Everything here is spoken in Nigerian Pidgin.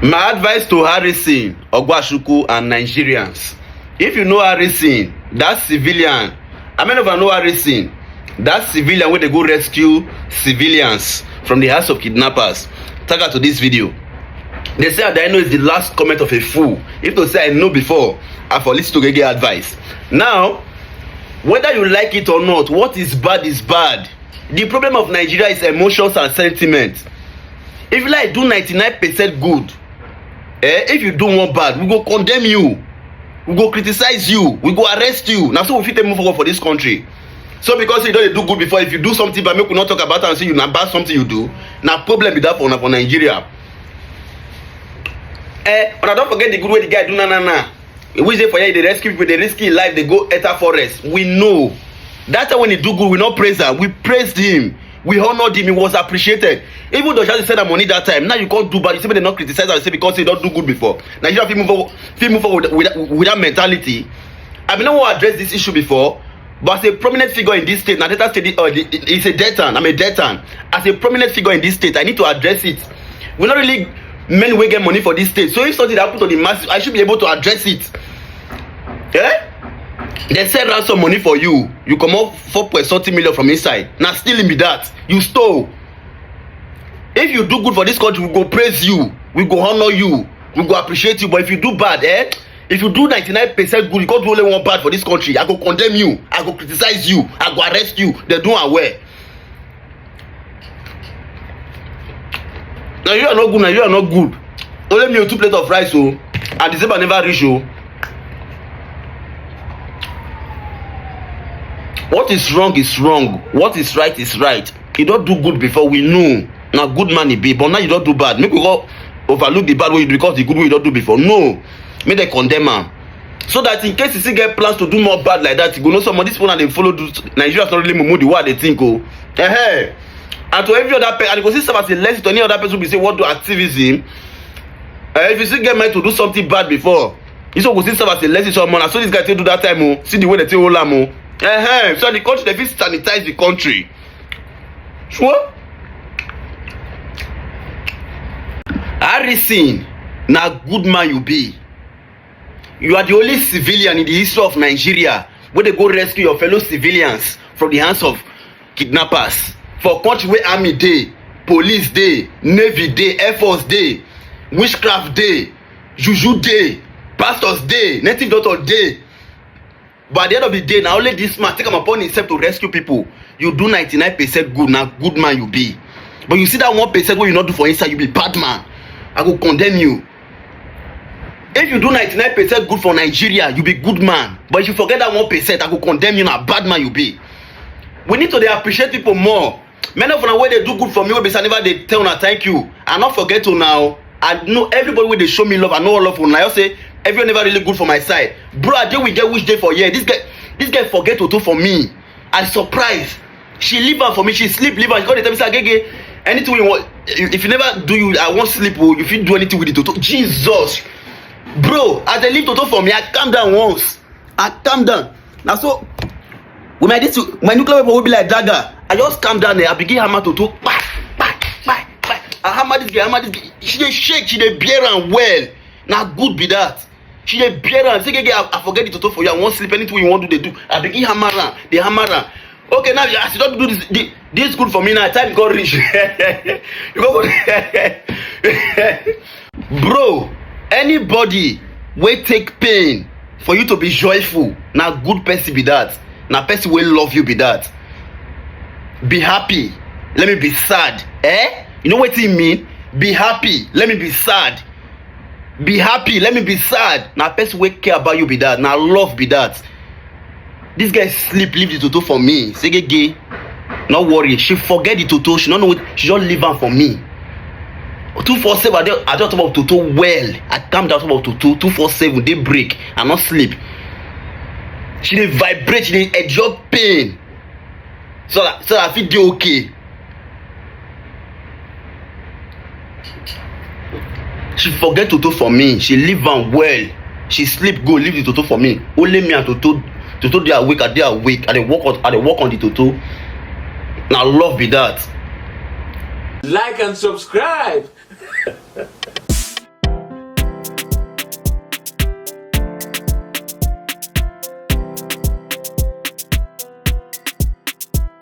My advice to Harrison, Ogwashuku and Nigerians. If you know Harrison, that civilian, I mean if I know Harrison, that civilian wey dey go rescue civilians from the hands of kidnappers, tag her to this video. They say Adaino is the last comment of a fool. If to say I know before, I for listen to Gege advice. Now, whether you like it or not, what is bad is bad. The problem of Nigeria is emotions and sentiments. if you like do 99 percent good eh if you do one bad we go condemn you we go criticize you we go arrest you na so we fit take move forward for this country so because you don dey do good before if you do something bad make we no talk about am say you na bad something you do na problem be that for una for nigeria eh una don forget the good wey the guy do na na na we dey for here dey rescue people dey risk him life dey go enter forest we know that time when he do good we no praise am we praise him we honored him he was appreciated even though shadi send am money that time now you come do bad you say make dem no criticize am say because he don do good before nigeria fit move forward fit move forward with, with, with that mentality i bin no wan address this issue before but as a prominent figure in this state na delta state uh, is a deltan i'm a deltan as a prominent figure in this state i need to address it we no really men wey get money for this state so if something happen to the masses i should be able to address it eh dem send ransom money for you you comot four point something million from inside na stealing be that you stole if you do good for this country we go praise you we go honour you we go appreciate you but if you do bad eh if you do ninety nine percent good you come do only one bad for this country i go condemn you i go criticize you i go arrest you dem do am well na you are not good na you are not good only me o two plate of rice o and december never reach o what is wrong is wrong what is right is right you don do good before we know na good man e be but now you don do bad make we go overlook the bad wey you do because the good wey you don do before no make dem condemn am so that in case you still get plans to do more bad like that you go know some of these people and they follow do nigeria is not really mumu the way i dey think o oh. uh-huh. and to every other person and you go see serve as a lesson to any other person wey be say wan do activism uh, if you still get mind to do something bad before you still go see serve as a lesson to someone and so this guy take do that time o oh. see the way they take hold am o oh. uh-huh. so the country dey fit sanitize the country sure harrison na good man you be you are the only civilian in the history of nigeria wey dey go rescue your fellow civilians from the hands of kidnappers for country wey army dey police dey navy dey air force dey witchcraft dey juju dey pastors dey native doctor dey but at the end of the day na only this man take am upon himself to rescue people you do ninety nine percent good na good man you be but you see that one percent wey you no do for inside you be bad man i go condemn you if you do ninety nine percent good for nigeria you be good man but if you forget that one percent i go condemn you na bad man you be we need to dey appreciate people more many of una wey dey do good for me wey be say i never dey tell una thank you i no forget una o i know everybody wey dey show me love i know all of una i just say everyone never really good for my side bro i dey with girl which dey for here this girl this girl forget toto for me i surprise she leave am for me she sleep leave am she come dey tell me say agege anything wey you want if you never do you i wan sleep o oh, you fit do anything with the toto jesus bro as they leave toto for me i calm down once i calm down na so with my this my nuclear weapon wey be like dagger i just calm down there i begin hammer to to kpa kpa kpa kpa i hammer this girl hammer this girl she dey shake she dey bear am well na good be that she dey bear am say gege i i forget the toto for you i wan sleep anything wey you wan do dey do i begin hammer am dey hammer am okay now as you don do this this, this good for me now time go reach you go bro anybody wey take pain for you to be joyful na good person be that na person wey love you be that be happy let me be sad eh you know wetin e mean be happy let me be sad be happy let me be sad na person wey care about you be that na love be that This guy sleep leave the toto for me segege no worry she forget the toto she no know she just leave am for me two four seven i dey i just talk about toto well i calm down talk about toto two four seven dey break i no sleep she dey vibrate she dey endure pain so that so that i fit dey okay she forget toto for me she leave am well she sleep go leave the toto for me only me and toto toto dey awake i dey awake i dey work on i dey work on the toto na love be that. Like and subscribe.